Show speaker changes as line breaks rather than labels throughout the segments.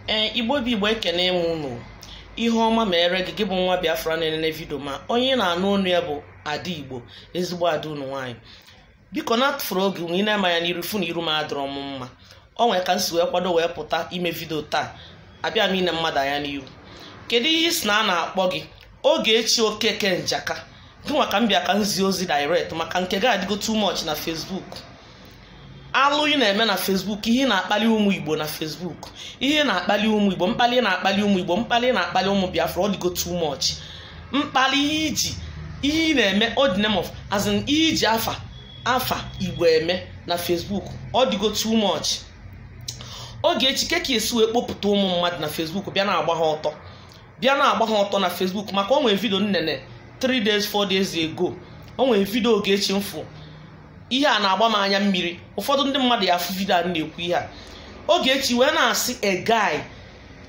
ee igbo bụ igbo ekene m unu ihe ọma mere gị gị bụ nwa biafra na-enene vidio m a onye ị na-anụ onu ya bụ ada igbo ezigbo ada unu nwaanyị biko na atụfurọ oge unu ị nee m anya n'iru ị fụ na iru m adịrọ m mma o nwere ka m si wee kwado wee pụta ime vidio taa abịa m ine mmadụ anya n'iru kedu ihe ị sị na a na-akpọ gị Ogechi Okeke Njaka gịnwa ka m bịa ka m zie ozi direct maka nke gị adịgo too much na Facebook alụ ị na-eme na Facebook ihe ị na-akpali ụmụ Igbo na Facebook ihe ị na-akpali ụmụ Igbo mkpali ị na-akpali ụmụ Igbo mkpali ị na-akpali ụmụ Biafra ọ dịgo too much mkpali ihe iji ihe ị na-eme all the name of as in ihe i ji afa afa Igbo eme na Facebook ọ dịgo too much Ogechi kee ka i si wee kpopụta ụmụ mmadụ na Facebook bịa na-agba ha ọtọ bịa na-agba ha ọtọ na Facebook maka o nwere vidio m nene 3 days 4 days ago o nwere vidio Ogechi m fụ ihe a na-agba m anya mmiri ụfọdụ ndị mmadụ ya-afụ vidio a na-ekwu ihe a Ogechi wee na-asị a guy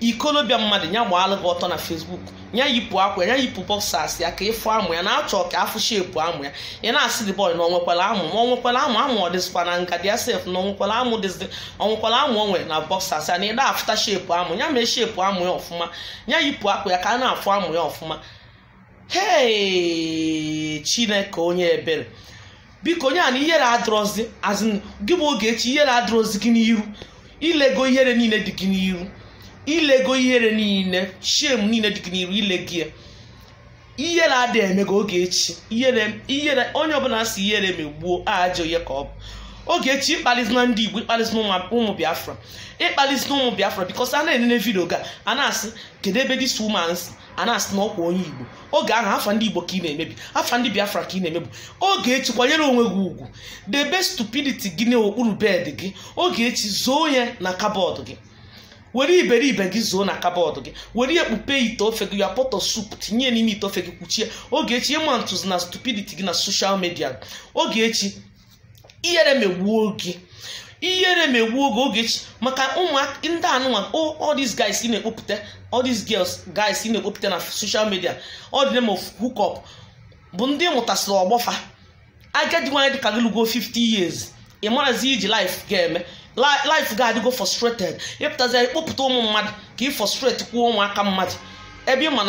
ikolobịa mmadụ ya gbaalụ gị ọtọ na Facebook ya yipụ akwa ya yipụ boxers ya ka ị fụ amụ ya na-achọ ka a fụ shepu amụ ya ị na-asị the boy na o nwekwala amụ ma o nwekwala amụ amụ ọ dịzikwa na nga dia sef na o nwekwala amụ dịzi o nwekwara amụ o nwere na boxers ya na ị da-afụta shepu amụ ya mee shepu amụ ya ọfụma ya yipụ akwa ya ka a na-afụ amụ ya ọfụma hei chineke onye ebere biko onye a na ihere adịrọzi as in gị bụ ogechi ihere adịrọzi gị n'iru i lego ihere niile dị gị n'iru i lego ihere niile shame niile dị gị n'iru i lego ya ihere ada eme gị ogechi ihere ihere onye ọbụla sị ihere megbuo ajọ ihe ka ọ bụ ogechi ịkpalizina ndị igbo ịkpalizina ụmụ- ụmụ biafra ịkpalizina ụmụ biafra because a na-enene vidio gị a na-asị kedu ebe this woman si a na-asị na ọkwa onye igbo oge ahụ afa ndị igbo ka ị na-emebi afa ndị biafra ka ị na-emebi ogechi kwanyere onwe gị ugwu debe stupidity gị n'okpuru bed gị ogechi zoo ya na cupboard gị were iberibe gị zoo na cupboard gị were ekpupe ite ofe gị your pot of soup tinye n'ime ite ofe gị kpuchie ogechi ịma ntụzi na stupidity gị na social media ogechi ihere megbuo gị ihere megbuo gị ogechi maka ụmụaka ndị anụnwa oh, all these guys ị na-ekpopụta all these girls guys ị na-ekpopụta na social media all the name of hookup bụ ndị ị mụtasịrị ọgbọ fa agadi nwaanyị dịka gị lugo 50 years ị marọzi ihe i ji life gị eme life gị adịgo frustrated ị pụtazi ịkpọpụta ụmụ mmadụ ka ị frustrate kwuo ụmụaka mmadụ ebe ị ma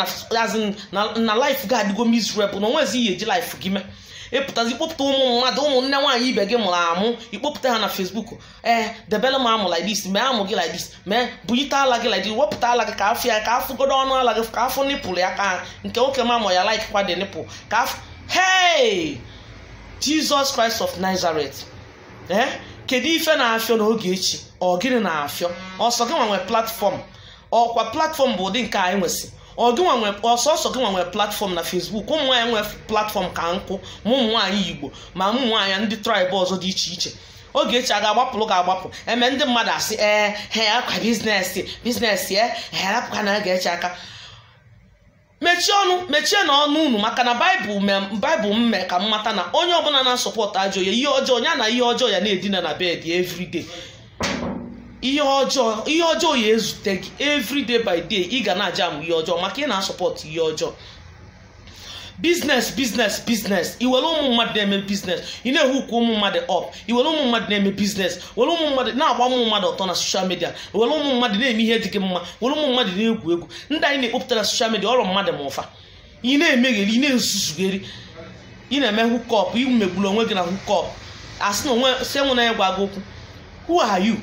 na life gị adịgo miserable na o nwezi ihe i ji life gị mee ị pụtazi ịkpọpụta ụmụ mmadụ ụmụ nne nwaanyị ibe gị mụrụ amụ ịkpọpụta ha na Facebook ee debere m amụ like this mee amụ gị like this mee bulite ala gị like this wepụta ala gị ka a fụ ya ka a fụgodu ọnụ ala gị ka a fụ nipple ya ka nke nwoke m amụ ya like kwa the nipple ka a fụ hey Jesus Christ of Nazareth ee kedu ife na-afịọ n'Ogechi ọ gịnị na-afịọ ọ sọ gị nwa nwe platform ọkwa platform bụ ụdị nke anyị nwesị ọ sọsọ gị nwa nwe platform na Facebook ụmụ nwaanyị nwe platform ka nkụ ma ụmụ nwaanyị Igbo ma ụmụ nwaanyị ndị tribe ọzọ dị iche iche Ogechi a ga-agbapụrụ ga-agbapụ eme ndị mmadụ asị ee hai ọkwa business business e ha rapụkwanụ Ogechi aka mechie ọnụ mechienụ ọnụ unu maka na baịbụl me- baịbụl m mee ka m mata na onye ọbụla na-asupport ajọ ihe ihe ọjọọ ya na ihe ọjọọ ya na-edina na bed everyday ihe ọjọọ ihe ọjọọ ya ezute gị everyday by day ị ga na-ajam ihe ọjọọ maka ị na-asupport ihe ọjọọ business business business i were ụmụ mmadụ na-eme business ị na-ehook ụmụ mmadụ up i were ụmụ mmadụ na-eme business were ụmụ mmadụ na-agba ụmụ mmadụ ọtọ na social media were ụmụ mmadụ na-eme ihe dị gị mma were ụmụ mmadụ na-egwu egwu ndị a ị na-ekpopụta na social media ọ rọ mmadụ mụ fa ị na-emegheri ị na-ezuzugheri ị na-eme hookup i megburu onwe gị na hookup asị na onwe si enwe na ya gwa gị okwu who are you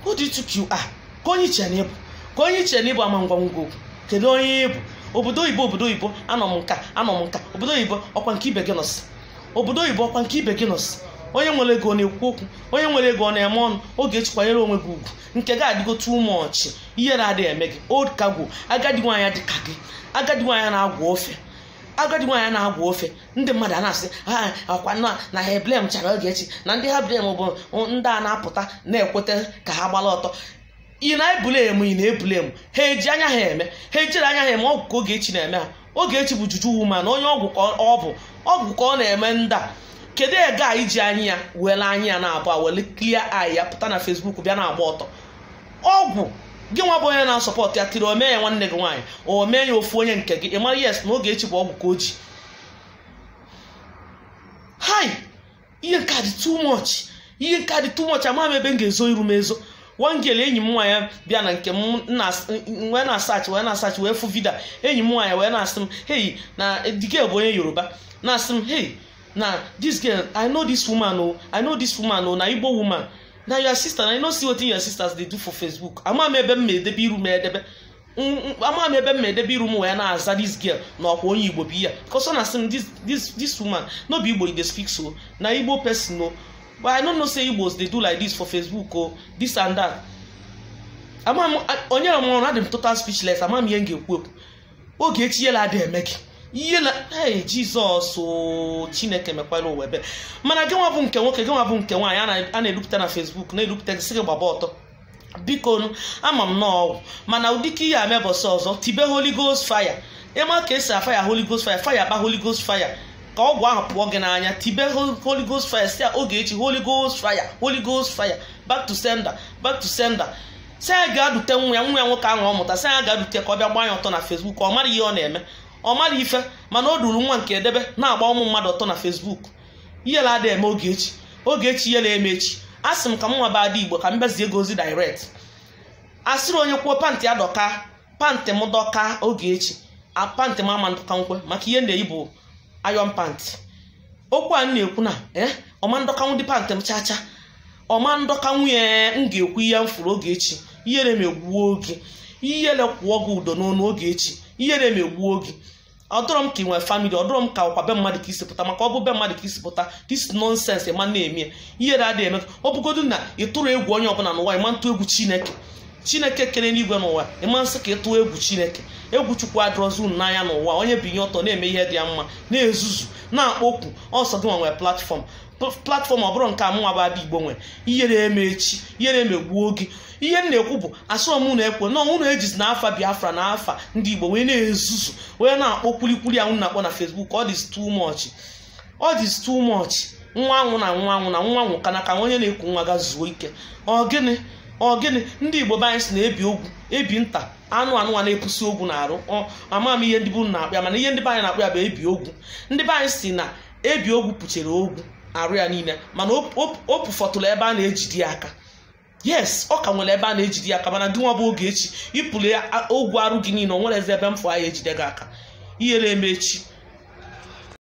who do you think you are kee onye i che na ị bụ kee onye i che na ị bụ a ma-agwa gị okwu kedu onye ị bụ obodo oyibo obodo oyibo anọ m nka anọ m nka obodo oyibo ọkwa nke ibe gị nọsị obodo oyibo ọkwa nke ibe gị nọsị onye nwere ego ọ na-ekwu okwu onye nwere ego ọ na-eme ọnụ Ogechi kwanyere onwe gị ugwu nke gị adịgo too much ihere adịghị eme gị old cargo agadi nwaanyị dị ka gị agadi nwaanyị na-agwọ ofe agadi nwaanyị na-agwọ ofe ndị mmadụ a na-asị ha ọkwanụ na ha eblame charọ Ogechi na ndị ha blame bụ ndị a na-apụta na-ekweta ka ha gbara ọtọ ị na-eblame ị na-eblame ha eji anya ha eme ha ejiri anya ha eme ọgwụ ka Ogechi na-eme ha Ogechi bụ juju woman onye ọgwụ ka ọ bụ ọgwụ ka ọ na-eme ndị a kedu girl ya-eji anya ya were anya ya naabụa were clear eye pụta na Facebook bịa na-agba ọtọ ọgwụ gị nwa bụ onye na-asupport ya till o mee ya nwanne gị nwaanyị o mee ya ofu onye nke gị ị mara yes na Ogechi bụ ọgwụ ka o ji hai ihe nke a dị too much ihe nke a dị too much amaghị m ebe m ga-ezo iru m ezo one girl enyi m nwaanyị bịa na nke m wee na-asearch wee na-asearch wee fụ video enyi m nwaanyị wee na-asị m hey na the girl bụ onye yoruba na-asị m hey na this girl i know this woman o i know this woman o na igbo woman na your sister na you no see wetin your sisters dey do for facebook ama m ebe m ma edebe iru m edebe ama m ebe m ma edebe iru m wee na-aza this girl na ọkwa onye igbo bụ ya because ọ na-asị m this woman no be igbo you dey speak so na igbo person o but i no know say igbos dey do like this for facebook o this and that ama m onye ọmụrụ na adị m total speechless ama m ihe m ga-ekwu ekwu Ogechi ihere adịghị eme gị ihe na ee jizọs oo, chineke mekwara ụwa ebere mana gị nwa bụ nke nwoke gị nwa bụ nke nwaanyị a na- a na-edupụta na fesbuk na-edupụta gị sị gị gbaba ọtọ biko nụ, ama m na ọ ọgwụ mana ụdịka ihe a mee ụbọsị ọzọ tibe holy ghost fire ị ma ka e si afaya holy ghost fire fire kpa holy ghost fire ka ọgwụ ahụ pụọ gị n'anya tibe Hol- holy ghost fire sị ya Ogechi holy ghost fire holy ghost fire back to sender back to sender sị ya gaa dute nwa ya nwa ya nwoke ahụ ọ mụta sị ya gaa dute ka ọ bịa gbaa ya ọtọ na Facebook ọ mara ihe ọ na-eme ọ mara ife mana o duru nwa nke ya debe na-agba ụmụ mmadụ ọtọ na Facebook ihere ada eme Ogechi Ogechi ihere eme gị asị m ka m nwa bụ Ada Igbo ka m bịa zie gị ozi direct a sịrị onye kwuo pantị ya dọka pantị m dọka Ogechi a pantị m ama ndọkanwụ maka ihe m na-eyi bụ ayọn pantị okwu a na-ekwu na ee eh, ọ ma ndọkanwụ dị pantị m chacha ọ ma ndọkanwụ ya m ga-ekwu ihe m fụrụ Ogechi ihere megbuo gị ihere kwụọ gị ụdọ n'onu Ogechi ihere megbuo gị ọ dọrọ m ka i nwere famili ọ dọrọ m ka ọkwa be mmadụ ka i si pụta maka ọ bụ be mmadụ ka i si pụta dis nonsens ị ma na-eme ihere adịghị eme gị ọ bụgodu na ị tụrụ egwu onye ọbụla n'ụwa ị ma ntụ egwu chineke chineke kere enigwe na ụwa ị ma nsị ka ị tụọ egwu chineke egwu chukwu adịrọzi unu n'anya n'ụwa onye binye ọtọ na-eme ihe dị ya mma na-ezuzu na-akpọ okwu ọ sọ gị nwa nwe platfọm platfọm ọ bụrụ nke a mụ nwa bụ Ada Igbo nwere ihere eme gị ihere emegbuo gị ihe m na-ekwu bụ asị m unu ekwena unu ejizina afa biafra na afa ndị igbo wee na-ezuzu wee na-akpọ kwulikwuli a unu na-akpọ na fesbuk ọ dịzi too much ọ dị too much nwa anwụna nwa anwụna nwa nwụọ ka na ka onye na-eku nwa gaa zuo ike ọ gịnị ọ gịnị ndị igbo be anyị sị na ebi ogwu ebi nta anụ anụ a na-epusi ogwu na arụ ama m ihe ndị be unu na-akpọ ya mana ihe ndị be anyị na-akpọ ya bụ ebi ogwu ndị be anyị sị na ebi ogwu puchere ogwu arụ ya niile mana o pufọtụrụ ebe a na-ejide ya aka yes ọ ka nwere ebe a na-ejide ya aka mana gị nwa bụ Ogechi i puru ogwu arụ gị niile o nwere ebe m fụ a ya-ejide gị aka ihere eme gị